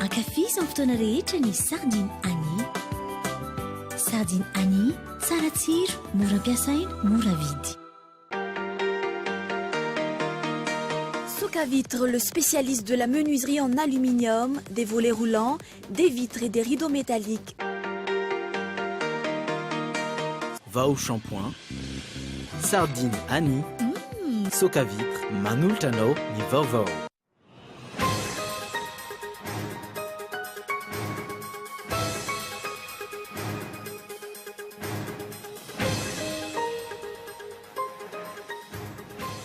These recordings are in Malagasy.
Ankafizo amin'ny fotoana rehetra ny Sardine Annie. Sardine Annie, tsara tsiro, mora ampiasaina, mora vidy. Soca Vitre, le spécialiste de la menuiserie en aluminium, des volets roulants Des vitres et des rideaux métalliques. Va au shampoing, sardine Annie, Soca vitre, manolotra anao ny vaovao.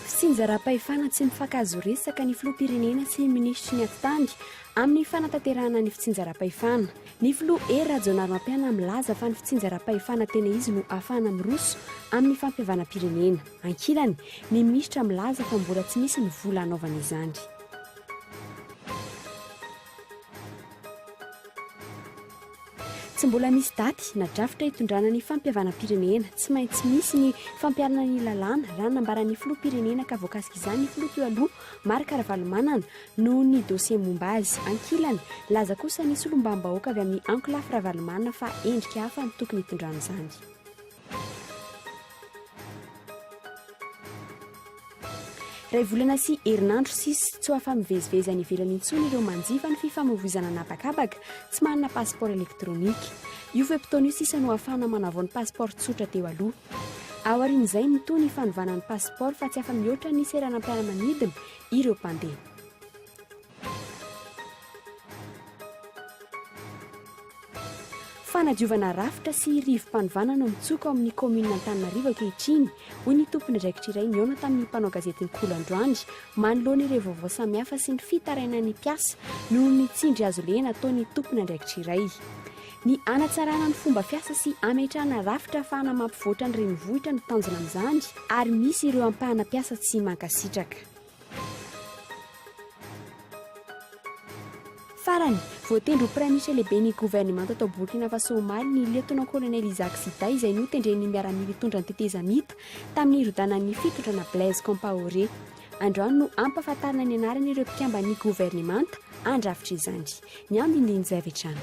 Sinjaram-pahefana tsy mifankahazo resaka ny filoham-pirenena sy ny minisitry ny atitany Amin'ny fanatanterahana ny fitsinjaram-pahefana. Ny filoha Hery Rajaonarimampianina milaza fa ny fitsinjaram-pahefana tena izy no ahafahana miroso amin'ny fampihavanam-pirenena. Ankilany, ny minisitra milaza fa mbola tsy misy ny vola hanaovana izany. Tsy mbola misy daty na drafitra hitondrana ny fampihavanam-pirenena. Tsy maintsy misy ny fampiharana ny lalàna, raha nambaran'ny filoham-pirenena ka voakasika izany ny filoha teo aloha, Marc Ravalomanana, noho ny dosie momba azy. Ankilany, nilaza kosa ny solombavambahoaka avy amin'ny ankolafy Ravalomanana fa endrika hafa no tokony hitondrana izany. Raivolana sy herinandro sisa, tsy ho afa-mivezivezy any ivelany intsony ireo manjifa ny fifamoivoizana an'habakabaka tsy manana pasipaoro elektronika. Io fe-potoana io sisa no ahafahana manavao ny pasipaoro tsotra teo aloha. Aorian'izay, mitohy ny fanovana ny pasipaoro fa tsy afa-mihoatra ny seranam-piaramanidina ireo mpandeha. Fanadiovana rafitra sy rivo-panovana no mitsoka ao amin'ny kaominina Antananarivo ankehitriny, hoy ny tompon'andraikitra iray nihaona tamin'ny mpanao gazety ny Kolo androany, manoloana ireo vaovao samihafa sy ny fitarainan'ny mpiasa noho ny tsindry hazo lehena ataon'ny tompon'andraikitra iray. Ny hanatsarana ny fomba fiasa sy hametrahana rafitra ahafahana mampivoatra ny renivohitra no tanjona amin'izany ary misy ireo ampahana mpiasa tsy mankasitraka. Farany, voatendry ho Praiminisitra lehiben'ny governemanta tao Burkina Faso omaly ny Lieutenant-Colonel Isaac Zida izay notendren'ny miaramila hitondra ny tetezamita tamin'ny hirodanan'ny fitondrana Blaise Compaoré. Androany no hampahafantarina ny anaran'ireo mpikamban'ny governemanta handrafitra izany. Ny andinindiny izay avy hatrany.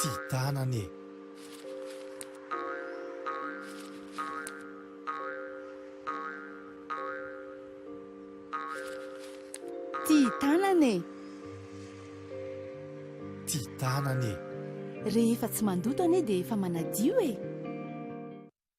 Ty tanana e! Ty tanana e! Ty tanana e! Rehefa tsy mandoto anie dia efa manadio e!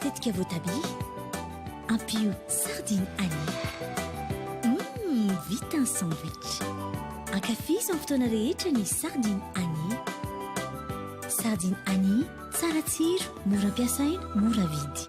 Tetika voatabia, ampio sardine ail. Humm, vita ny sandwich! Ankafizo amin'ny fotoana rehetra ny sardine ail. Sardine ail, tsara tsiro, mora ampiasaina, mora vidy.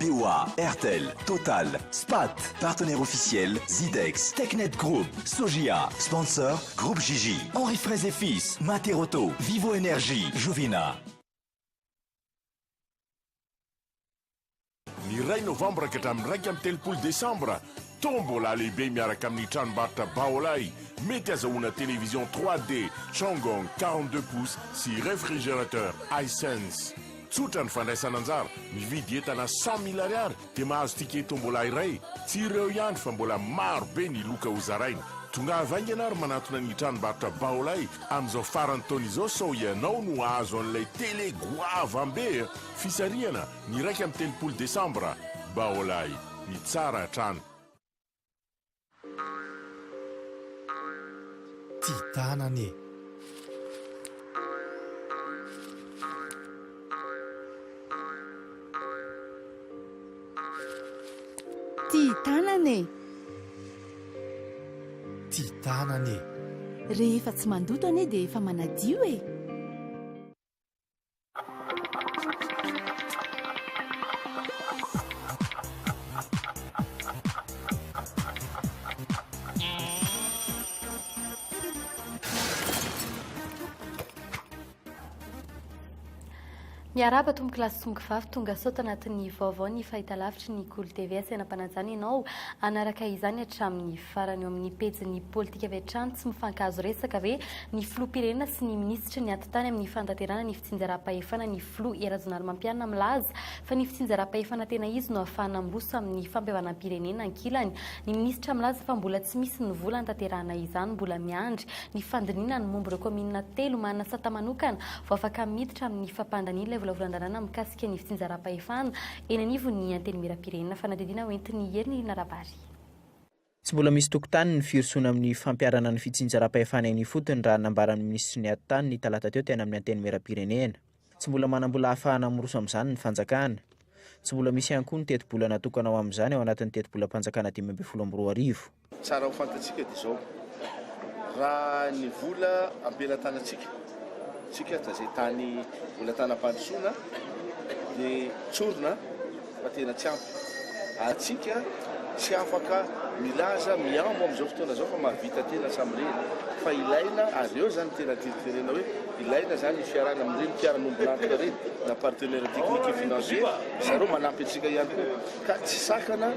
BOA, Airtel, Total, Spat, Partenaire Officiel, Zidex, Technet Group, Sojia, Sponsor, Groupe JJ, Henri Fraise et Fils, Materauto, Vivo Energie, Jovina. Ny iray novambra ka hatramin'ny iraika amby telopolo desambra, Tombola lehibe miaraka amin'ny tranombarotra Baolai, mety azahoana télévision 3D, Changong quarante-deux pouces sy réfrigérateur Hisense. Tsotra ny fandraisana anjara, mividy entana cent mille ariary dia mahazo ticket tombola iray, tsy ireo ihany fa mbola maro be ny loka ho zaraina. Tongava haingana ary manantona ny tranombarotra Baolay amin'izao faran'ny taona izao sao ianao no hahazo an'ilay tele goavam be a! Fisarihana, ny iraika amby telopolo desambra. Baolay, ny tsara hatrany. Ty tanana e. Ty tanana e. Ty tanana e. Rehefa tsy mandoto anie dia efa manadio e. Miarahaba tompoko lahy sy tompoko vavy, tonga sao tanatin'ny vaovao ny fahitalavitry ny Kolo TV asaina mpanajana ianao anaraka izany hatramin'ny farany eo amin'ny pejin'ny politika avy hatrany tsy mifankahazo resaka ve ny filoham-pirenena sy ny minisitra tsy niato tany amin'ny fanatanterahana ny fitsinjaram-pahefana ny filoha Hery Rajaonarimampianina milaza fa ny fitsinjaram-pahefana tena izy no ahafahana miroso amin'ny fampihavanam-pirenena ankilany. Ny minisitra milaza fa mbola tsy misy ny vola hanatanterahana izany, mbola miandry ny fandinihina ny momba ireo kaominina telo manana sata manokana vao afaka miditra amin'ny fampandaniana ilay volavolan-dalàna mikasika ny fitsinjaram-pahefana eny anivon'ny Antenimierampirenena. Fanadihadiana hoentin'i Hery Nirina Rabary. Tsy mbola misy tokontany ny firosoana amin'ny fampiharana ny fitsinjaram-pahefana eny ifotony raha nambaran'ny minisitry ny Atitany ny talata teo teny amin'ny Antenimierampirenena. Tsy mbola manam-bola ahafahana miroso amin'izany ny fanjakana. Tsy mbola misy ihany koa ny tetibola natokana ho amin'izany ao anatin'ny tetibolam-panjakana dimy ambin'ny folo amby roa arivo. Tsara ho fantatsika dia izao, raha ny vola am-pelatanantsika, tsika, izay tany mbola an-tanam-pandrosoana dia tsorina. fa tena tsy ampy ary tsika tsy afaka milaza mihambo amin'izao fotoana izao fa mahavita tena samireny fa ilaina ary eo izany tena teriterena hoe ilaina izany fiarana amin'ireny mpiara-nombon'antoka ireny na partenaire technique et financier ry zareo manampy antsika ihany koa ka tsy sakana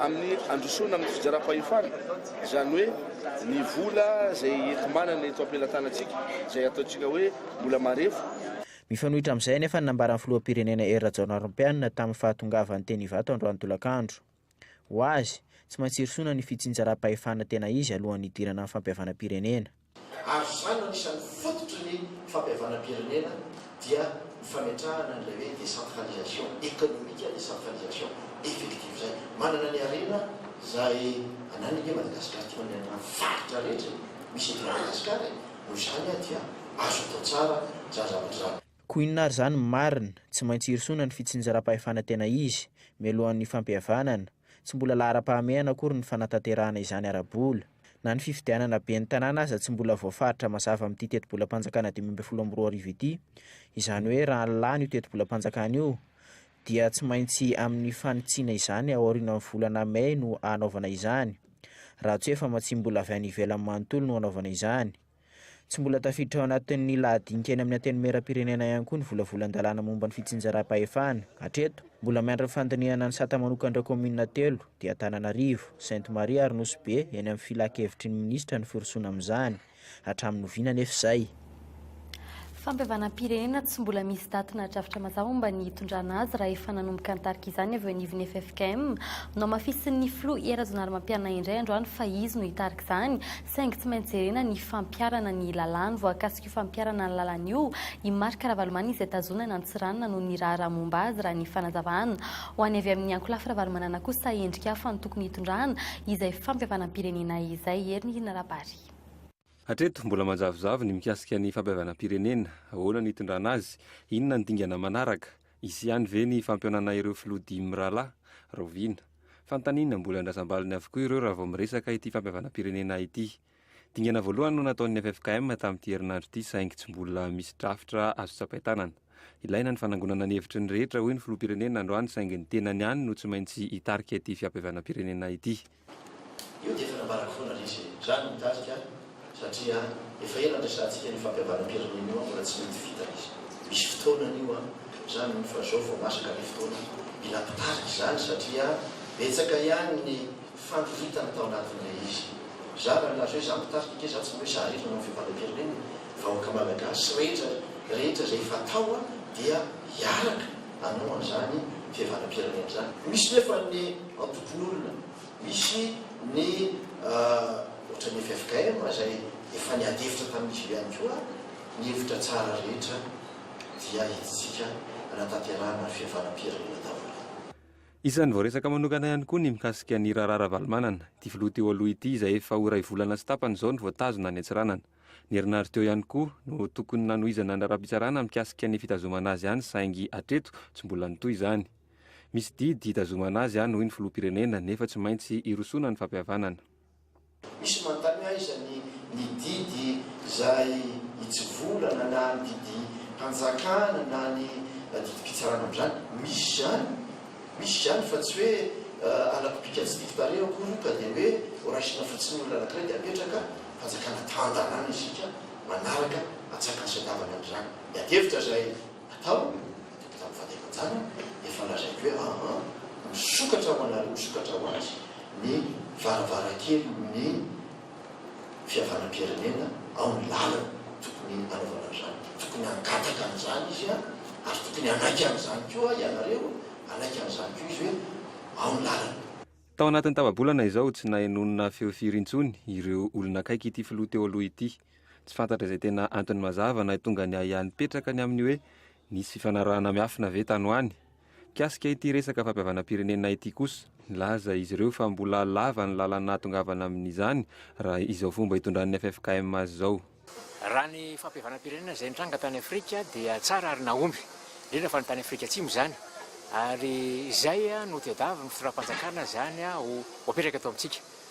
amin'ny androsoana amin'ny fijarampahefana izany hoe ny vola izay enti-manana eto am-pelatanantsika izay ataontsika hoe mbola marefo Mifanohitra amin'izay anefa ny nambaran'ny filoham-pirenena Hery Rajaonarimampianina tamin'ny fahatongavany teny Ivato androany tolakandro. Ho azy, tsy maintsy hirosoana ny fitsinjaram-pahefana tena izy alohan'ny hidirana amin'ny fampihavanam-pirenena. Ary izany no anisan'ny fototry ny fampihavanam-pirenena dia ny fametrahana an'ilay hoe décentralisation économique, décentralisation effective izay manana ny harena izay ananany ange Madagasikara. Tian'ny harena faritra rehetra e! Misy eto Madagasikara e! Noho izany aho dia azo atao tsara zaza vazaha. Koa inona ary izany ny marina? Tsy maintsy irosoana ny fitsinjaram-pahefana tena izy, mialohan'ny fampihavanana. Tsy mbola laharam-pahamehana akory ny fanatanterahana izany ara-bola. Na ny fifidianana ben'ny tanàna aza tsy mbola voafaritra mazava amin'ity tetibolam-panjakana dimy ambin'ny folo amby roa arivo ity. Izany hoe raha lany io tetibolam-panjakana io dia tsy maintsy amin'ny fanitsiana izany ao aorianan'ny volana mey no hanaovana izany, raha tsy hoe famatsiam bola avy any ivelany manontolo no hanaovana izany. Tsy mbola tafiditra ao anatin'ny lahadinika eny amin'ny Antenimierampirenena ihany koa ny volavolan-dalàna momba ny fitsinjaram-pahefana. Hatreto, mbola miandry ny fandinihana ny sata manokan'ireo kaominina telo, dia Antananarivo, Sainte Marie ary Nosy Be eny amin'ny filan-kevitry ny minisitra ny firosoana amin'izany. Hatramin'ny oviana anefa izay? Fampihavanam-pirenena tsy mbola misy daty na drafitra mazava momba ny hitondrana azy raha efa nanomboka nitarika izany avy eo anivon'ny ffkm. Nohamafisin'ny filoha Hery Rajaonarimampianina indray androany fa izy no hitarika izany saingy tsy maintsy jerena ny fampiharana ny lalàny. Voakasik'io fampiharana ny lalàny io i Marc Ravalomanana izay tazonana Antsiranana noho ny raharaha momba azy raha ny fanazavana ho an'ny avy amin'ny ankolafy Ravalomanana kosa endrika hafa no tokony hitondrana izay fampihavanam-pirenena izay. Hery Nirina Rabary. Afrika. Hatreto, mbola manjavozavo ny mikasika ny fampihavanam-pirenena. Ahoana ny hitondrana azy? Inona ny dingana manaraka? Hisy ihany ve ny fampionana ireo filoha dimy mirahalahy? Rahoviana? Fanontaniana mbola andrasam-baliny avokoa ireo raha vao miresaka ity fampihavanam-pirenena ity. Dingana voalohany no nataon'ny ffkm tamin'ity herinandro ity saingy tsy mbola misy drafitra azo tsapain-tanana. Ilaina ny fanangonana ny hevitry ny rehetra, hoy ny filoham-pirenena androany saingy ny tenany ihany no tsy maintsy hitarika ity fiampihavanam-pirenena ity. Io dia efa nambarako foana ry izy e! Zany no mitarika satria efa ela niresahantsika ny fampihavanam-pirenena io an! Mbola tsy mety vita ry izy! Misy fotoanany io an! Zany hono fa zao vao masaka le fotoana mila mpitarika izany satria betsaka ihany ny fandroritana tao anatin'ilay izy! Za raha nilaza hoe za mpitarika ange za tsy mba hoe za irery nanao ny fihavanam-pirenena e! Vahoaka Malagasy sy rehetra rehetra izay efa tao an! Dia hiaraka hanao an'izany fihavanam-pirenena izany! Misy nefa ny. antokon'olona misy ny ohatra ny ffkm izay efa niady hevitra tamin'izy io ihany koa ny hevitra tsara rehetra dia entintsika hanatanterahana fihavanam-pirenena daholo. Isan'ny voaresaka manokana ihany koa ny mikasika ny raharaha Ravalomanana, ity filoha teo aloha ity izay efa ho iray volana sy tapany izao no voatazona any Antsiranana. Ny herinandro teo ihany koa no tokony nanohizana ny raharaham-pitsarana mikasika ny fitazomana azy any saingy hatreto tsy mbola nitohy izany. Misy didy hitazomana azy any hoy ny filoham-pirenena nefa tsy maintsy hirosoana ny fampihavanana. Misy manontany aiza ny ny didy izay hitsivolana na ny didim-panjakana na ny didim-pitsarana amin'izany. Misy izany, misy izany fa tsy hoe alako bika tsy tiako tarehy akory io ka dia hoe horaisina fotsiny ny olona anankiray dia apetraka fanjakana tantanana isika manaraka atsak'antsodavana amin'izany. Miady hevitra izay. atao tamin'ny fahatevanjana dia efa lazaiko hoe aa misokatra ho anareo misokatra ho azy ny varavarankelin'ny fihavanam-pirenena ao ny lalana tokony hanaovana an'izany tokony hangataka an'izany izy a ary tokony hanaiky an'izany koa ianareo hanaiky an'izany koa izy hoe ao ny lalana. Tao anatin'ny tapa-bolana izao tsy nahay nonina feo firy intsony ireo olona akaiky ity filoha teo aloha ity Tsy fantatra izay tena antony mazava nahitonga ny ahiahy nipetraka ny amin'ny hoe nisy fifanarahana miafina ve tany ho any. Mikasika ity resaka fampihavanam-pirenena ity kosa, nilaza izy ireo fa mbola lava ny lalana nahatongavana amin'izany raha izao fomba hitondran'ny ffkm azy izao. Raha ny fampihavanam-pirenena izay nitranga tany Afrika dia tsara ary nahomby, indrindra fa ny tany Afrika Atsimo izany, ary izay no tadiavin'ny fitondram-panjakana izany ho apetraka eto amintsika.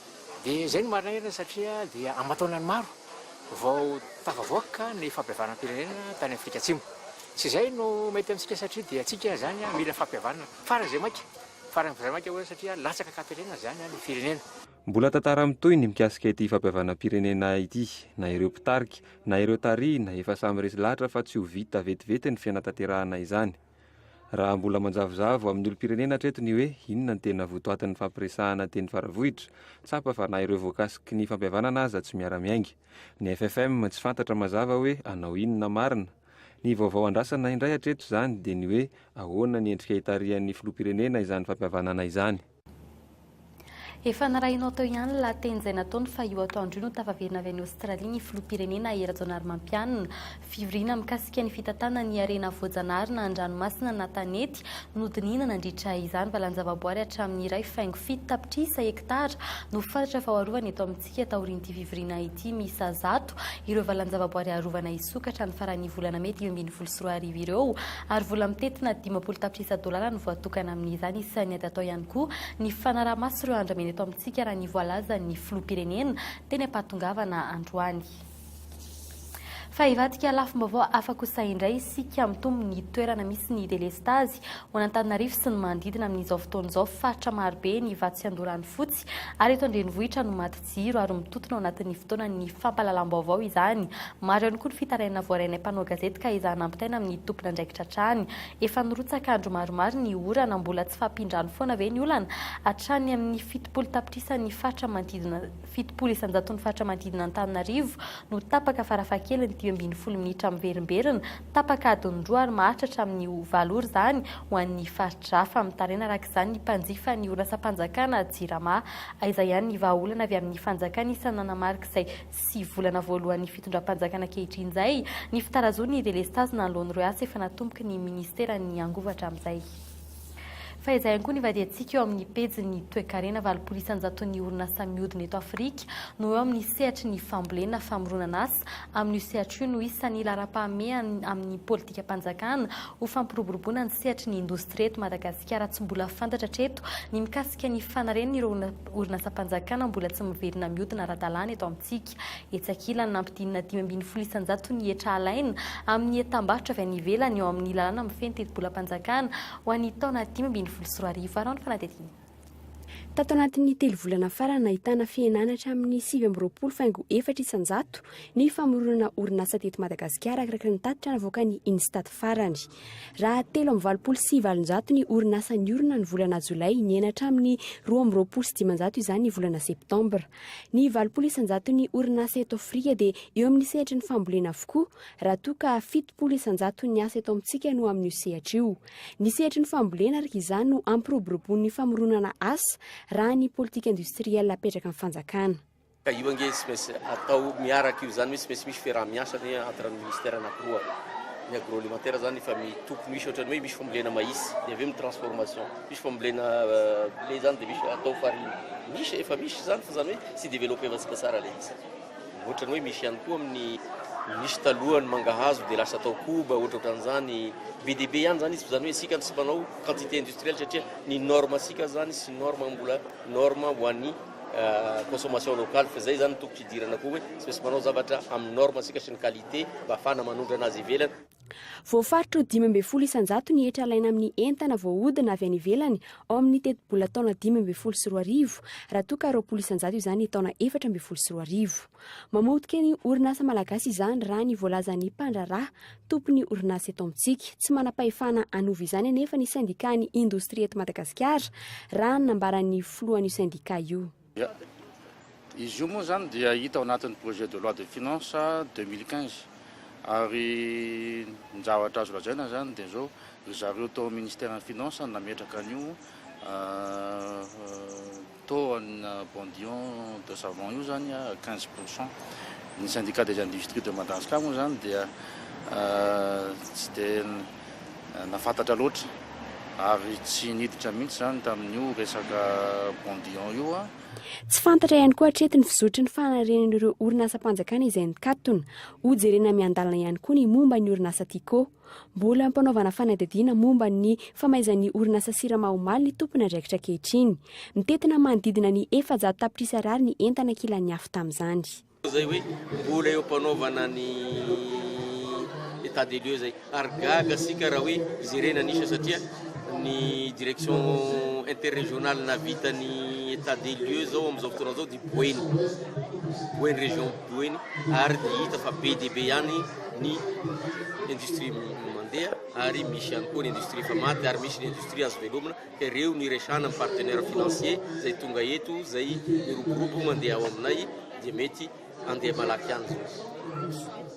Dia izay no marina eto satria dia aman-taonany maro vao tafavoaka ny fampihavanam-pirenena tany Afrika Atsimo. Tsy izay no mety amintsika satria dia antsika izany mila fampihavanana faran'izay maika, faran'izay maika hoy aho satria latsaka an-katerena izany ny firenena. Mbola tantara mitohy ny mikasika ity fampihavanam-pirenena ity, na ireo mpitarika, na ireo tarihina efa samy resy lahatra fa tsy ho vita vetivety ny fianatanterahana izany. Raha mbola manjavozavo amin'ny olom-pirenena hatreto ny hoe inona ny tena votoatin'ny fampiresahana teny Faravohitra, tsapa fa na ireo voakasiky ny fampihavanana aza tsy miara-miainga. Ny FFM tsy fantatra mazava hoe hanao inona marina. Ny vaovao andrasana indray hatreto izany dia ny hoe ahoana ny endrika hitarihan'ny filoham-pirenena izany fampihavanana izany. Efa narahinao teo ihany ny lahateny izay nataony fa io atoandro io no tafaverina avy any Aostralia ny Filoham-pirenena Hery Rajaonarimampianina. Fivoriana mikasika ny fitantanana ny harena voajanahary na an-dranomasina na tanety no dinihina nandritra izany. Valanjavaboary hatramin'ny iray faingo fito tapitrisa hektara no faritra faharoavany eto amintsika. Ankadikadintsika taorian'ity fivoriana ity miisa zato ireo valan-javaboary arovana hisokatra ny faran'ny volana mey dimy ambin'ny folo sy roa arivo ireo ary vola mitentina dimampolo tapitrisa dolara no voatokana amin'izany. Isan'ny ady atao ihany koa ny fanaraha-maso ireo andramena eto amintsika raha ny voalazan'ny filoham-pirenena teny am-pahatongavana androany. Fa hivadika lafim-baovao hafa kosa indray isika, mitombo ny toerana misy ny delestazy ho an'Antananarivo sy ny manodidina amin'izao fotoana izao. Faritra marobe ny vato sy an-dorano fotsy ary eto an-drenivohitra no maty jiro ary mitotona ao anatin'ny fotoanan'ny fampahalalam-baovao izany. Maro ihany koa ny fitarainana voarainay mpanao gazety ka ezahana ampitaina amin'ny tompon'andraikitra hatrany. Efa nirotsaka andro maromaro ny orana, mbola tsy fahampian-drano foana ve ny olana? Hatrany amin'ny fitopolo tapitrisa ny faritra manodidina. Fitopolo isan-jaton'ny faritra manodidina Antananarivo no tapaka farafahakeliny dimy ambin'ny folo minitra miverimberina, tapaka adiny roa ary maharitra hatramin'ny ho valo ora izany ho an'ny faritra hafa. Mitaraina araka izany ny mpanjifa ny orinasam-panjakana Jirama. Aiza ihany ny vahaolana avy amin'ny fanjakana isany nanamarika izay sy volana voalohan'ny fitondram-panjakana ankehitriny izay ny fitarazoana ny delestazy nanoloan'ireo asa efa natomboky ny minisiteran'ny angovo hatramin'izay. Fa izay ihany koa ny vadiantsika eo amin'ny pejin'ny toekarena, valopolo isanjaton'ny orinasa mihodina eto Afrika no eo amin'ny sehatry ny fambolena, famoronan'asa, amin'io sehatra io no isan'ny laharam-pahamehany amin'ny politikam-panjakana ho fampiroboroboana ny sehatry ny indostria eto Madagasikara, tsy mbola fantatra hatreto ny mikasika ny fanarenana ireo orinasam-panjakana mbola tsy miverina mihodina ara-dalàna eto amintsika. Etsy ankilany, nampidinina dimy ambin'ny folo isan-jato ny hetra alaina amin'ny entam-barotra avy any ivelany eo amin'ny lalàna mifehy ny tetibolam-panjakana ho an'ny taona dimy ambin'ny folo sy roa arivo. Araho ny fanadihadiana. Tato anatin'ny telo volana farany, nahitana fihenana hatramin'ny sivy amby roapolo faingo efatra isan-jato ny famoronana orinasa teto Madagasikara, arakaraka ny tatitra navoakan'ny Instat farany. Raha telo amby valopolo sy valonjato ny orinasa niorina ny volana jolay, nihena hatramin'ny roa amby roapolo sy dimanjato izany ny volana septambra. Ny valopolo isan-jaton'ny orinasa eto Afrika dia eo amin'ny sehatry ny fambolena avokoa, raha toa ka fitopolo isan-jaton'ny asa eto amintsika no amin'io sehatra io. Ny sehatry ny fambolena ary izany no ampiroboroboan'ny famoronana asa, raha ny politika industrielle apetraka amin'ny fanjakana. Ka io ange tsy maintsy atao miaraka io, izany hoe tsy maintsy misy fiaraha-miasa ny entre ny ministère anankiroa. Ny agroalimentaire izany efa tokony ho hisy, ohatran'ny hoe misy fambolena mahitsy, dia avy eo ny transformation. Misy fambolena blé zany dia misy atao farine. Misy, efa misy izany fa izany hoe tsy developevantsika tsara ilay izy. Ohatrany hoe misy ihany koa amin'ny nisy taloha ny mangahazo dia lasa atao koba, ohatra ohatran'izany. Be dia be ihany izany izy fa izany hoe isika no tsy mpanao quantité industrielle satria ny norme antsika izany sy norme mbola norme ho an'ny consommation locale fa izay izany ny tokony hidirana koa hoe tsy maintsy manao zavatra amin'ny norme antsika sy ny qualité mba hahafahana manondrana azy ivelany. Voafaritra ho dimy ambin'ny folo isan-jato ny hetra alaina amin'ny entana voahodina avy any ivelany ao amin'ny tetibola taona dimy ambin'ny folo sy roa arivo, raha toa ka roapolo isan-jato izany taona efatra ambin'ny folo sy roa arivo. Mamotika ny orinasa malagasy izany raha ny voalazan'ny mpandraharaha tompon'ny orinasa eto amintsika. Tsy manam-pahefana hanova izany anefa ny sendikàn'ny indostria eto Madagasikara, raha ny nambaran'ny filohan'io sendikà io. Izy io moa izany dia hita ao anatin'ny projet de loi de finances deux mille quinze ary ny zavatra azo lazaina izany dia izao, ry zareo tao amin'ny ministeran'ny finances no nametraka an'io taux an'ny Bondion de savon io izany quinze pour cent. Ny Syndicat des industries de Madanscar moa izany dia tsy dia. na fantatra loatra ary tsy niditra mihitsy izany tamin'io resaka Bondion io an. Tsy fantatra ihany koa hatreto ny fizotry ny fanarenan'ireo orinasam-panjakana izay nikatona. Hojerena miandalana ihany koa ny momba ny orinasa Tiko. Mbola ampanaovana fanadihadiana momba ny famaizan'ny orinasa Sirama omaly ny tompon'andraikitra ankehitriny. Mitentina manodidina ny efajato tapitrisa ariary ny entana kilan'ny afo tamin'izany. zay hoe mbola eo ampanaovana ny etat des lieux zay ary gaga sika raha hoe jerena ny isa satria ny direction interrégionale navita ny etat des lieux zao am'izao fotoana zao dia boeny boeny région boeny ary dia hita fa be dia be ihany ny industrie mandeha ary misy ihany koa ny industrie efa maty ary misy ny industrie azo velomina Ireo no iresahana amin'ny partenaire financier izay tonga eto, izay miroborobo mandeha ao aminay dia mety handeha malaky any izao.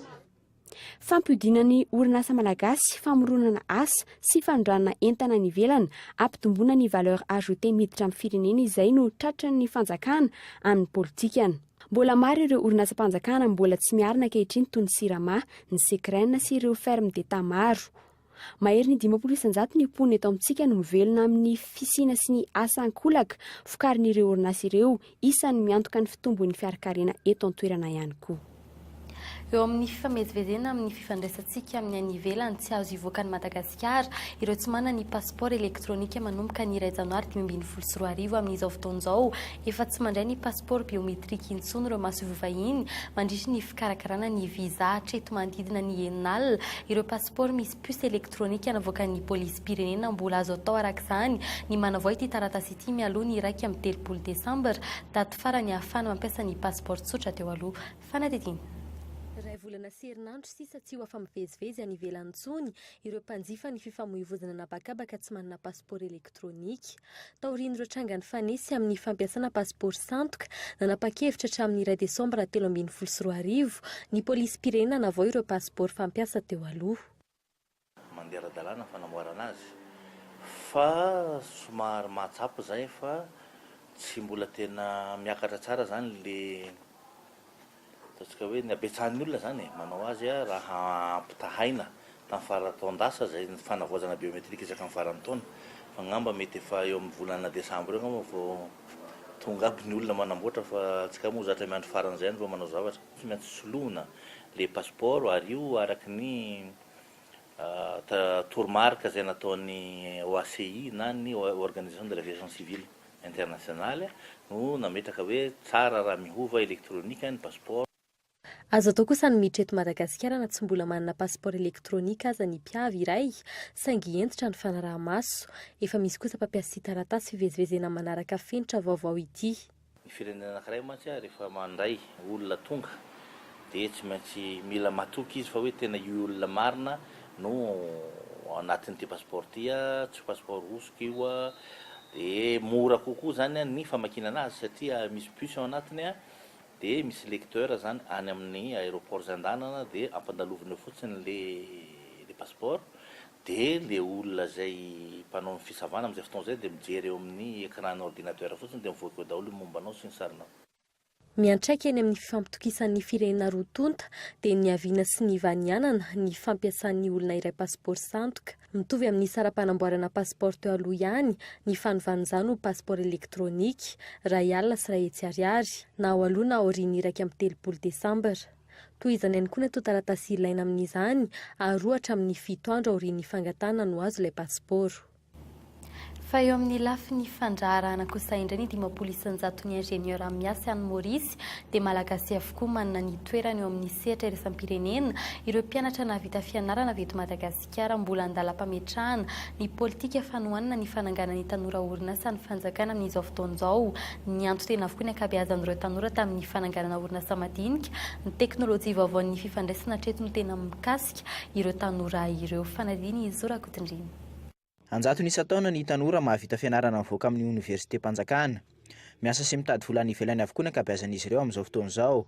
Fampodiana ny orinasa malagasy, famoronana asa sy fanondranana entana any ivelany, ampitomboina ny valeur ajoutée miditra amin'ny firenena izay no tratran'ny fanjakana amin'ny politikany. Mbola maro ireo orinasam-panjakana mbola tsy miarina ankehitriny toy ny Sirama, ny Secren sy ireo fermes d'Etat maro. Maherin'ny dimampolo isan-jato ny mponina eto amintsika no mivelona amin'ny fisiana sy ny asa an-kolaka vokarin'ireo orinasa ireo, isan'ny miantoka ny fitombon'ny fiarakarena eto an-toerana ihany koa. Eo amin'ny fifamezivezena amin'ny fifandraisantsika amin'ny any ivelany, tsy azo hivoaka an'i Madagasikara ireo tsy manana ny pasipaoro elektronika manomboka ny iray janoary dimy ambin'ny folo sy roa arivo. Amin'izao fotoana izao, efa tsy mandray ny pasipaoro biometrika intsony ireo masoivoho vahiny mandritry ny fikarakarana ny visa hatreto manodidina ny enina alina ireo. Por misy puce elektronika navoakan'ny polisim-pirenena mbola azo atao araka izany ny manavao ity taratasy ity mialoha ny iraika amby telopolo desambra, daty farany ahafahana mampiasa ny passeport tsotra teo aloha. Fanadihadiana. Iray volana sy herinandro sisa tsy ho afa-mivezivezy any ivelany intsony ireo mpanjifa ny fifamoivoizana an'habakabaka tsy manana pasipaoro elektronika. Taorian'ireo tranga nifanesy amin'ny fampiasana pasipaoro sandoka, nanapa-kevitra hatramin'ny iray desambra telo ambin'ny folo sy roa arivo ny polisim-pirenena hanavao ireo pasipaoro fampiasa teo aloha. Mandeha ara-dalàna ny fanamboarana azy fa somary mahatsapa izay fa tsy mbola tena miakatra tsara izany ilay Ataontsika hoe ny habetsahan'ny olona izany e, manao azy raha ampitahaina tamin'ny faran'ny taon-dasa izay fanavaozana biometrika isaky ny faran'ny taona. Fa angamba mety efa eo amin'ny volana desambra eo angamba vao tonga aby ny olona manamboatra fa antsika moa zatra miandry faran'izay ihany vao manao zavatra. Tsy maintsy soloina le pasipaoro ary io araka ny toromarika izay nataon'ny OACI na ny Organisation de l'Aviation Civile. Internationale, no nametraka hoe tsara raha mihova elektronika ny pasipaoro. Azo atao kosa ny miditra eto Madagasikara na tsy mbola manana pasipaoro elektronika aza ny mpiavy iray, saingy hentitra ny fanaraha-maso. Efa misy kosa mpampiasa ity taratasy fivezivezena manaraka fenitra vaovao ity. Ny firenena anankiray mantsy rehefa mandray olona tonga dia tsy maintsy mila matoky izy fa hoe tena io olona marina no ao anatin'ity passeport ity, tsy passeport hosoka io, dia mora kokoa izany ny famakinana azy satria misy bus ao anatiny dia misy lecteur izany any amin'ny aéroport izay andehanana dia ampandalovina eo fotsiny ilay passeport dia ilay olona izay mpanao ny fisavana amin'izay fotoana izay dia mijery eo amin'ny écran-ny ordinateur fotsiny dia mivoaka eo daholo ny momba anao sy ny sarinao. Miantraika eny amin'ny fifampitokisan'ny firenena roa tonta dia niaviana sy nivanianana ny fampiasan'ny olona iray pasipaoro sandoka, mitovy amin'ny saram-panamboarana pasipaoro teo aloha ihany ny fanovan'izany ho pasipaoro elektronika, iray alina sy iray hetsy ariary, na ao aloha na aorian'ny iraika amby telopolo desambra. Tohizana ihany koa ny antontan-taratasy ilaina amin'izany ary roa hatramin'ny fito andro aorian'ny fangatahana no azo ilay pasipaoro. Fa eo amin'ny lafiny fandraharahana kosa indray ny dimampolo isan-jaton'ny ingénieurs miasy any Maurice dia Malagasy avokoa manana ny toerany eo amin'ny sehatra iraisam-pirenena, ireo mpianatra nahavita fianarana avy eto Madagasikara mbola an-dalam-pametrahana ny politika fanohanana ny fananganan'ny tanora orinasa ny fanjakana amin'izao fotoana izao, nianto tena avokoa ny ankabeazan'ireo tanora tamin'ny fananganana orinasa madinika, ny teknolojia vaovaon'ny fifandraisana hatreto no tena mikasika ireo tanora ireo, fanadin'i Zo Rakotondriana. An-jatony isan-taona ny tanora mahavita fianarana mivoaka amin'ny oniversitem-panjakana. Miasa sy mitady vola any ivelany avokoa ny ankabeazan'izy ireo amin'izao fotoana izao.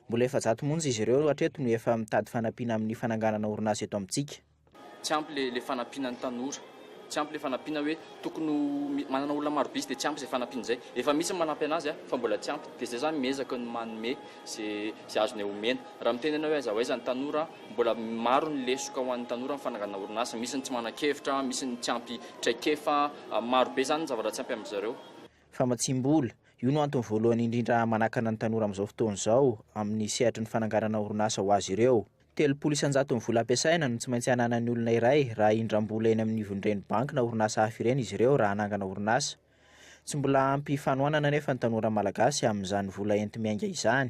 Mbola efajato monja izy ireo hatreto no efa mitady fanampiana amin'ny fananganana orinasa eto amintsika. Tsy ampy le le fanampiana ny tanora. Tsy ampy le fanampiana hoe tokony ho manana olona marobe izy de tsy ampy izay fanampiana izay. Efa misy ny manampy anazy a, fa mbola tsy ampy. De zay zany miezaka ny manome ze ze azone omena. Raha miteny anao hoe aiza ho aiza ny tanora an, Mbola maro ny lesoka ho an'ny tanora ny fananganana orinasa. Misy ny tsy manan-kevitra, misy ny tsy ampy traikefa. Maro be izany ny zavatra tsy ampy amin-dry zareo. Famatsiam-bola, Io no antony voalohany indrindra manakana ny tanora amin'izao fotoana izao amin'ny sehatry ny fananganana orinasa ho azy ireo. Telopolo isan-jato ny vola ampiasaina no tsy maintsy ananan'ny olona iray raha hindram-bola eny amin'ny ivon'ireny banky na orinasa hafa ireny izy ireo raha hanangana orinasa. Tsy mbola ampy fanohanana anefa ny tanora malagasy amin'izany vola enti-miainga izany.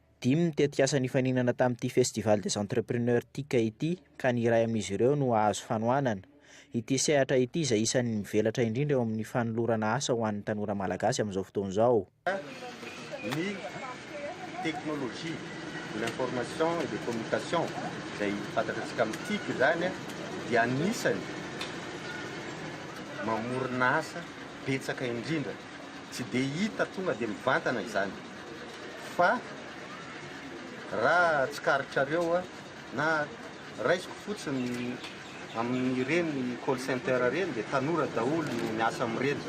Dimy ny tetikasa nifaninana tamin'ity Festival des Entrepreneurs TIC ity ka ny iray amin'izy ireo no hahazo fanohanana. Ity sehatra ity izay isan'ny mivelatra indrindra eo amin'ny fanolorana asa ho an'ny tanora malagasy amin'izao fotoana izao. ny technologie de l'information et des communications izay fantatratsika amin'ny TIC izany dia anisany mamorona asa betsaka indrindra. Tsy dia hita tonga dia mivantana izany. fa raha tsikaritrareo na raisiko fotsiny amin'ireny call center ireny dia tanora daholo no miasa amin'ireny.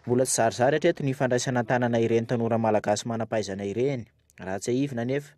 Mbola tsy zarizary hatreto ny fandraisana an-tanana ireny tanora malagasy manam-pahaizana ireny. Raha tsiahivina anefa,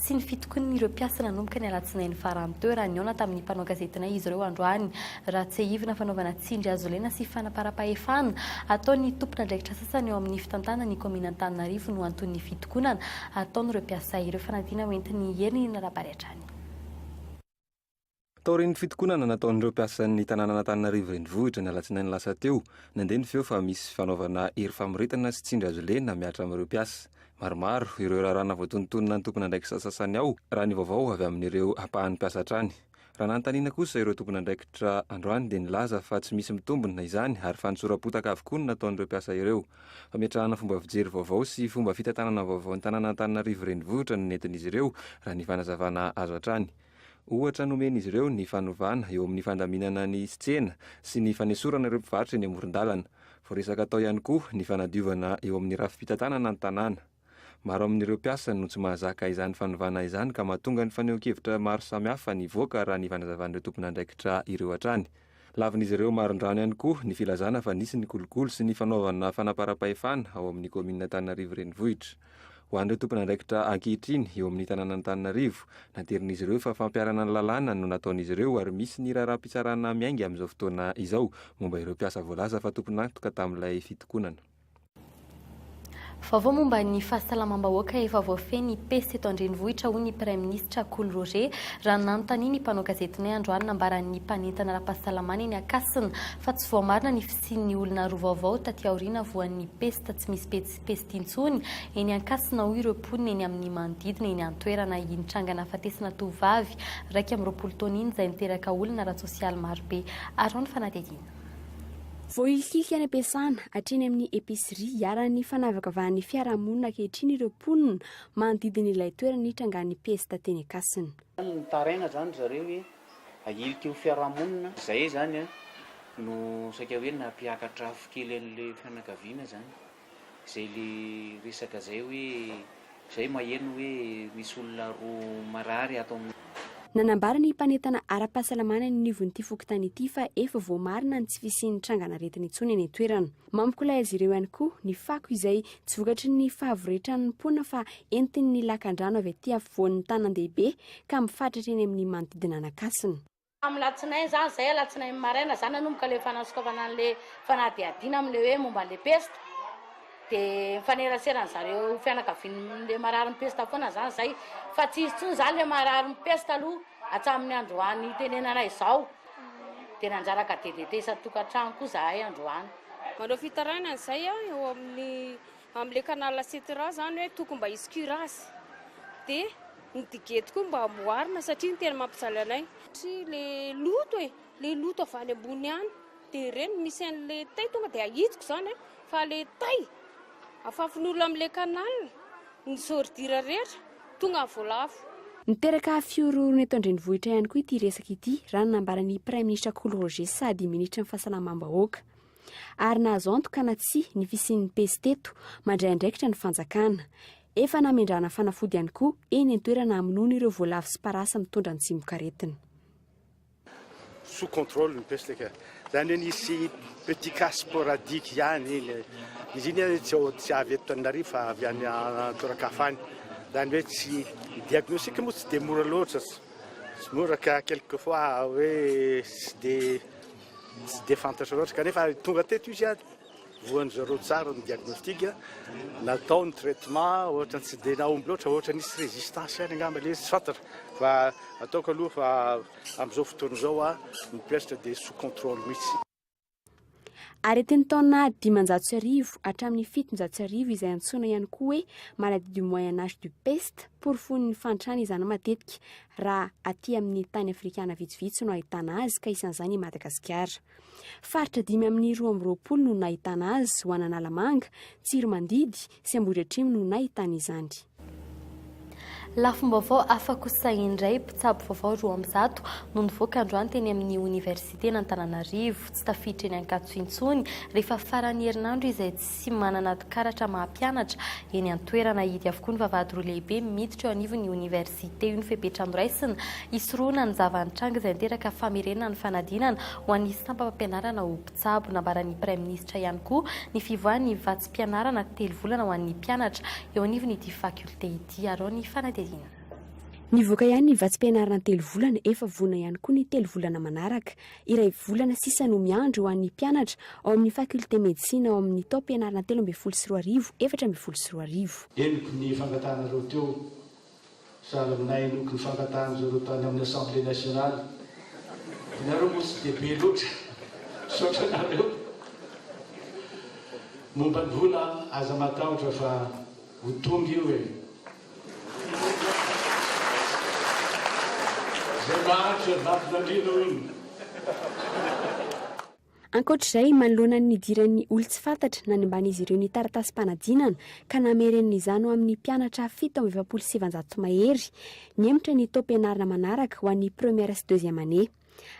sy ny fitokonan'ireo mpiasa nanomboka ny alatsinainy farany teo raha nihaona tamin'ny mpanao gazetinay izy ireo androany. Raha tsiahivina, fanaovana tsindry hazolena sy fanaparam-pahefana ataon'ny tompon'andraikitra sasany ao amin'ny fitantanana ny kaomin'Antananarivo no anton'ny fitokonana ataon'ireo mpiasa ireo fanadina hoentin'ny herin'ny narabary hatrany. Taorian'ny fitokonana nataon'ireo mpiasan'ny tanànan'Antananarivo Renivohitra ny alatsinainy lasa teo, nandeha ny feo fa misy fanaovana hery famoretana sy tsindry azo lena mihatra amin'ireo mpiasa. Maromaro ireo raharaha navoatonontonona ny tompon'andraikisa sasany ao, raha ny vaovao avy amin'ireo ampahan'ny mpiasa hatrany. Raha nanontaniana kosa ireo tompon'andraikitra androany dia nilaza fa tsy misy mitombina izany ary fanosoram-potaka avokoa no nataon'ireo mpiasa ireo. Fametrahana fomba fijery vaovao sy fomba fitantanana vaovao ny tanànan'Antananarivo Renivohitra no nentin'izy ireo, raha ny fanazavana azo hatrany. Ohatra nomen'izy ireo ny fanovana eo amin'ny fandaminana ny tsena sy ny fanesorana ireo mpivarotra eny amoron-dalana. Voaresaka tao ihany koa ny fanadiovana eo amin'ny rafi-pitantanana ny tanàna. Maro amin'ireo mpiasa no tsy mahazaka izany fanovana izany ka mahatonga ny fanehoan-kevitra maro samihafa nivoaka raha ny fanazavan'ireo tompon'andraikitra ireo hatrany. Lavin'izy ireo marindrano ihany koa ny filazana fa nisy ny kolikoly sy ny fanaovana fanamparam-pahefana ao amin'ny kaominin'Antananarivo Renivohitra. Ho an'ireo tompon'andraikitra ankehitriny eo amin'ny tanànan'Antananarivo, nadirin'izy ireo fa fampiharana ny lalàna no nataon'izy ireo ary misy ny raharaham-pitsarana miainga amin'izao fotoana izao momba ireo mpiasa voalaza fa tompon'antoka tamin'ilay fitokonana. Vaovao momba ny fahasalamam-bahoaka efa voafehy ny peste eto an-drenivohitra, hoy ny praiminisitra Kolo Roger, raha nanontaniana ny mpanao gazetinay androany nambaran'ny mpanentana ara-pahasalamana eny Ankasina fa tsy voamarina ny fisian'ny olona roa vaovao taty aoriana voan'ny peste tsy misy peste intsony eny Ankasina, hoy ireo mponina eny amin'ny manodidina eny an-toerana. Iny tranga nahafatesana tovovavy iraika amby roapolo taona iny izay niteraka olana ara-tsosialy marobe araho ny fanadihadiana. Voahilikilika any am-piasana, hatreny amin'ny epicerie, iharan'ny fanavakavahan'ny fiarahamonina ankehitriny ireo mponina manodidina ilay toerana nitrangan'ny pesta teny Ankasina. Mitaraina izany ry zareo hoe ahilika io fiarahamonina izay izany no saika hoe nampiakatra afo kely an'ilay fianakaviana izany. zay le resaka zay hoe zay maheno hoe misy olona roa marary ato amin'ny. Nanambara ny mpanentana ara-pahasalamana eny anivon'ity fokontany ity fa efa voamarina ny tsy fisian'ny trangan'aretina intsony eny an-toerana. Mampikolay azy ireo ihany koa ny fako izay tsy vokatry ny fahavoretran'ny mpoana fa entin'ny lakandrano avy aty afovoan'ny tanan-dehibe ka mifatratra eny amin'ny manodidina an'Ankasina. Tamin'ny latsinainy izany izay, alatsinainy maraina izany nanomboka ilay fanasokafana an'ilay fanadihadiana amin'ilay hoe momba an'ilay pesta, dia mifanerasera an'zareo fianakavian'ilay marary ny pesta foana izany izay, fa tsy hisy intsony izany ilay marary ny pesta aloha hatramin'ny androany itenenana izao, dia nanjaraka DDT isan-tokantrano koa izahay androany. Manao fitarainana izay eo amin'ny Amle canal Setera zany hoe tokony mba hisy cuirasse dia ny digety koa mba amboarina satria ny tena mampijaly anay satria le loto e, le loto avy any ambony any dia ireny misy anle tay tonga dia ahitiko zany a, fa le tay afafin'olona amle canal ny zordira rehetra tonga vao lafo. Niteraka fihorohorona eto an-drenivohitra ihany koa ity resaka ity, raha ny nambaran'ny Praiminisitra Kolo Roger sady Minisitry ny Fahasalamam-bahoaka. ary nahazo antoka na tsia ny fisian'ny pejy teto mandray andraikitra ny fanjakana. Efa namendrana fanafody ihany koa eny an-toerana hamonoana ireo voalavo sy parasy mitondra ny tsimokaretina. sous contrôle ny peste ka zany hoe nisy petit cas sporadique ihany iny izy iny hoe tsy ao tsy avy eto Tananarivo fa avy any an-toeran-kafa any zany hoe tsy ny diagnostic moa tsy dia mora loatra tsy mora ka quelque fois hoe tsy dia Tsy dia fantatra loatra, kanefa tonga teto izy ary voan-dry zareo tsara ny diagnostic natao, ny traitement ohatra tsy dia nahomby loatra, ohatra nisy résistance ihany angamba ilay izy, tsy fantatra fa ataoko aloha fa amin'izao fotoana izao a ny peste dia sous contrôle mihitsy. Aretin'ny taona dimanjato sy arivo hatramin'ny fitonjato sy arivo izay antsoina ihany koa hoe maladie du moyen âge du peste, porofoin'ny fahantrana izany matetika, raha aty amin'ny tany afrikana vitsivitsy no ahitana azy ka isan'izany i Madagasikara. Faritra dimy amin'ny roa amby roapolo no nahitana azy ho an'Analamanga, Tsiromandidy sy Ambohidratrimo no nahitana izany. Lafim-baovao hafa kosa indray, mpitsabo vaovao roa amby zato no nivoaka androany teny amin'ny oniversiten'Antananarivo. Tsy tafiditra eny Ankatso intsony rehefa faran'ny herinandro izay tsy sy manana karatra maha-mpianatra eny an-toerana ahidy avokoa ny vavahady roa lehibe miditra eo anivon'ny oniversite io ny fepetra noraisina hisorohana ny zava-nitranga izay niteraka famerenana ny fanadinana ho an'ny sampam-pampianarana ho mpitsabo. Nambaran'ny praiminisitra ihany koa ny fivoahan'ny vatsim-pianarana telo volana ho an'ny mpianatra eo anivon'ity fakioltea ity arao ny fanadihadiana. Nivoaka ihany ny vatsim-pianarana telo volana, efa voana ihany koa ny telo volana manaraka. Iray volana sisa no miandry ho an'ny mpianatra ao amin'ny Faculté Medecine ao amin'ny taom-pianarana telo ambin'ny folo sy roa arivo efatra ambin'ny folo sy roa arivo. Henoko ny fankatanareo teo sady nahenoko ny fankatanjareo tany amin'ny Assemblée Nationale. Ianareo moa tsy dia be loatra. Misaotra anareo. Momba ny vola, aza matahotra fa ho tonga io e. Izay maharitra vaton'andriana hoy ny. Ankoatra izay, manoloana ny nidiran'ny olon-tsy fantatra, nanimban'izy ireo ny taratasim-panadinana ka namerenina izany ho amin'ny mpianatra fito amby efapolo sy sivinjato mahery. Nihemotra ny taom-pianarana manaraka ho an'ny première sy deuxième année.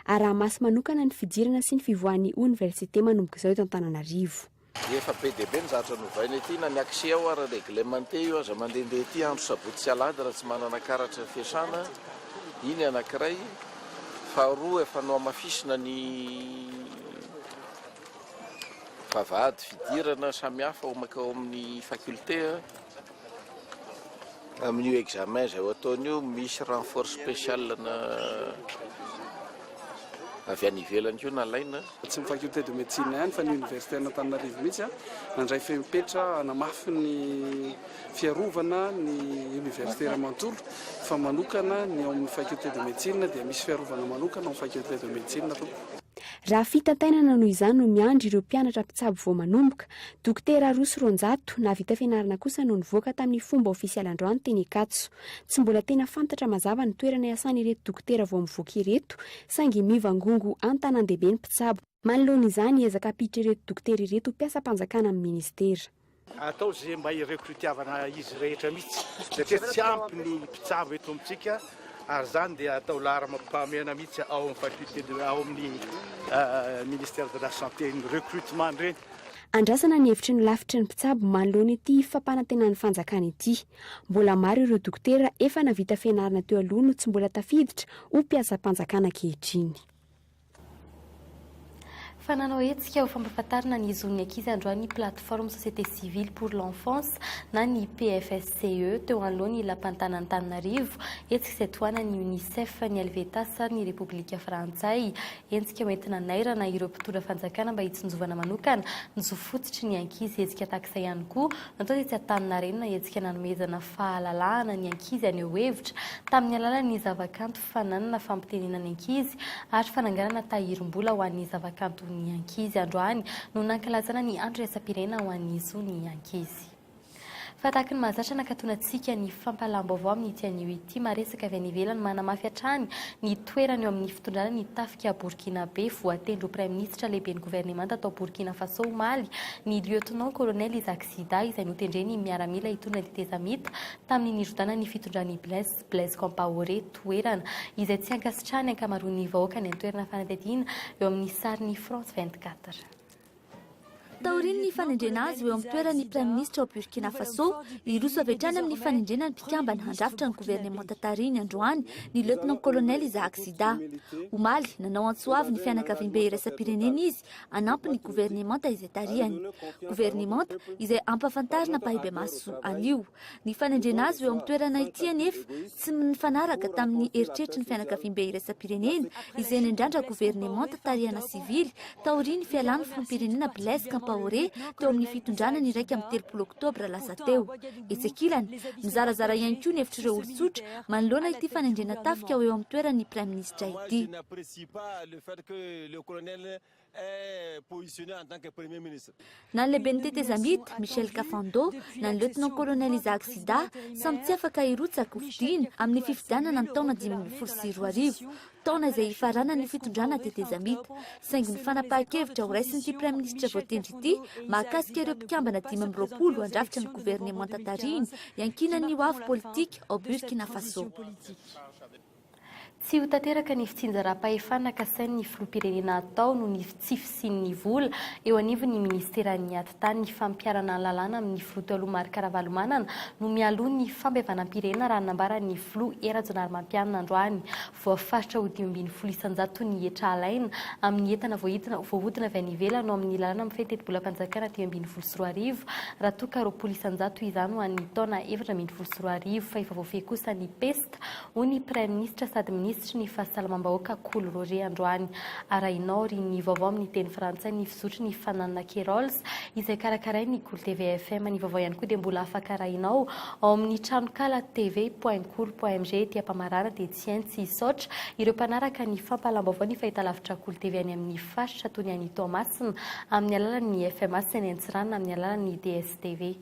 Araha-maso manokana ny fidirana sy ny fivoahan'ny oniversite manomboka izao eto Antananarivo. Efa be dia be ny zavatra novaina ety na ny accès ao ary reglementé io aza mandehandeha ety andro sabotsy sy alahady raha tsy manana karatra fiasana iny anankiray faharoa efa nohamafisina ny vavahady fidirana samihafa ao amin'ny faculté Amin'io examen izay ho ataony io, misy renfort spécial ana avy any ivelany koa nalaina. Tsy ny faculté de médecine ihany fa ny Universiten'Antananarivo mihitsy nandray fepetra hanamafy ny fiarovana ny universitaires manontolo fa manokana ny ao amin'ny faculté de médecine dia misy fiarovana manokana ao amin'ny faculté de médecine tompoko. Raha fitantainana noho izany no miandry ireo mpianatra mpitsabo vao manomboka, Dokotera roa sy roanjato nahavita fianarana kosa no nivoaka tamin'ny fomba ofisialy androany teny Ankatso. Tsy mbola tena fantatra mazava ny toerana iasan'ireto dokotera vao mivoaka ireto saingy mivangongo an-tanàn-dehibe ny mpitsabo. Manoloana izany hiezaka hampiditra ireto dokotera ireto ho mpiasam-panjakana amin'ny minisitera. Atao izay mba hi-recruter-vana izy rehetra mihitsy satria tsy ampy ny mpitsabo eto amintsika ary izany dia atao laharamam-pahamehana mihitsy ao amin'ny faculté de, ao amin'ny ministère de la santé ny recrutement ireny. Andrasana ny hevitry ny lafitry ny mpitsabo manoloana ity fampanantenan'ny fanjakana ity. Mbola maro ireo dokotera efa navita fianarana teo aloha no tsy mbola tafiditra ho mpiasam-panjakana ankehitriny. Fa nanao hetsika ho fampahafantarana ny zon'ny ankizy androany ny Plateforme Société Civile pour l'Enfance na ny PFSCE teo anoloan'ny Lapan'ny tanàn'Antananarivo, hetsika izay tohanan'ny Unicef, ny Helvetas ary ny Repoblika Frantsay. Hetsika hoentina hanairana ireo mpitondra fanjakana mba hitsinjovana manokana ny zo fototry ny ankizy. Hetsika tahak'izay ihany koa no atao tetsy Antaninarenina, hetsika nanomezana fahalalahana ny ankizy haneho hevitra tamin'ny alalan'ny zavakanto. fananana fampitenena ny ankizy ary fananganana tahirim-bola ho an'ny zavakanto ny ankizy. Androany no nankalazana ny andro iraisam-pirenena ho an'ny zo ny ankizy. Fa tahaka ny mahazatra nakatona antsika ny fampahalam-baovao amin'ity anio ity, maresaka avy any ivelany manamafy hatrany ny toerany eo amin'ny fitondrana ny tafika Borkinabe. Voatendry ho praiminisitra lehiben'ny governemanta tao Borkina Faso omaly ny lieutenant colonel Isaac Zida izay notendren'ny miaramila hitondra ny tetezamita tamin'ny nirodana ny fitondran'i Blaise Blaise Compaoré, toerana izay tsy ankasitrahan'ny ankamaroan'ny vahoaka any an-toerana fanadihadiana eo amin'ny sarin'ny France vingt quatre. Taorian'ny fanendrena azy ho eo amin'ny toeran'ny Praiminisitra ao Burkina Faso, hiroso avy hatrany amin'ny fanendrena ny mpikambana handrafitra ny governemanta tarihiny androany ny Lieutenant-Colonel Isaac Zida. Omaly, nanao antso avo ny fianakaviambe iraisam-pirenena izy hanampy ny governemanta izay tarihany. Governemanta izay ampahafantarina ampahibemaso anio. Ny fanendrena azy ho eo amin'ny toerana ity anefa tsy mifanaraka tamin'ny eritreritry ny fianakaviambe iraisam-pirenena izay nendrandra governemanta tarihana sivily taorian'ny fialan'ny filoham-pirenena Blaise Campaoré teo amin'ny fitondrana ny iraika amby telopolo oktobra lasa teo. Etsy ankilany, mizarazara ihany koa ny hevitr'ireo olon-tsotra manoloana ity fanendrena tafika ho eo amin'ny toeran'ny praiminisitra ity. Na ny lehiben'ny tetezamita, Michel Kafando, na ny lieutenant-colonel Isaac Sida, samy tsy afaka hirotsaka hofidiana amin'ny fifidianana ny taona dimy ambin'ny folo sy roa arivo, taona izay hifaranan'ny fitondrana tetezamita. Saingy ny fanapahan-kevitra horaisin'ity praiminisitra voatendry ity mahakasika ireo mpikambana dimy amby roapolo handrafitra ny governemanta tarihiny iankinan'ny hoavy politika ao Burkina Faso. Tsy ho tanteraka ny fitsinjaram-pahefana kasain'ny filoham-pirenena hatao noho ny tsy fisian'ny vola eo anivon'ny minisiteran'ny Ati-tany. Fampiharana ny lalàna amin'ny filoha taloha Marc Ravalomanana no mialoha ny fampihavanam-pirenena raha ny nambaran'ny filoha Hery Rajaonarimampianina androany. Voafaritra ho dimy ambin'ny folo isan-jato ny hetra alaina amin'ny entana voaidina voahodina avy any ivelany ao amin'ny lalàna mifehy tetibolam-panjakana dimy ambin'ny folo sy roa arivo raha toa ka roapolo isan-jato izany ho an'ny taona efatra ambin'ny folo sy roa arivo fa efa voafehy kosa ny pesta hoy ny Praiminisitra sady Minisitry ny Fahasalamam-bahoaka Kolo Roger androany. Arahinao ry ny vaovao amin'ny teny frantsay ny fizotry ny fananana Kerolls izay karakarain'ny Kolo TV FM. Ny vaovao ihany koa dia mbola afaka arahinao ao amin'ny tranonkala TV point kolo point mg ety Ampamarana dia Tsiantsy. Hisaotra ireo mpanaraka ny fampahalam-baovao ny fahitalavitra Kolo TV any amin'ny faritra toy ny any Toamasina amin'ny alalan'ny FMA sy any Antsiranana amin'ny alalan'ny DSTV.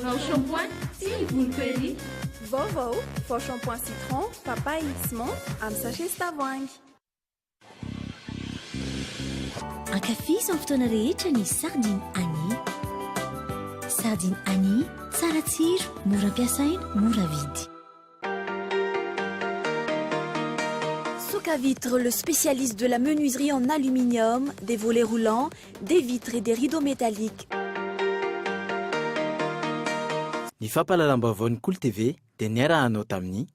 Vao shampoing sy ivony Perrier. Vaovao, vao shampoing citron, papaye sy menthe amin'ny sachet sy tavoahangy. Ankafizo amin'ny fotoana rehetra ny sardine Annie. Sardine Annie, tsara tsiro, mora ampiasaina, mora vidy. Soka Vitre, le spécialiste de la menuiserie en aluminium, des volets roulants, des vitres et des rideaux métalliques. Ny fampahalalam-baovao ny Kolo TV dia niara-hanao tamin'i.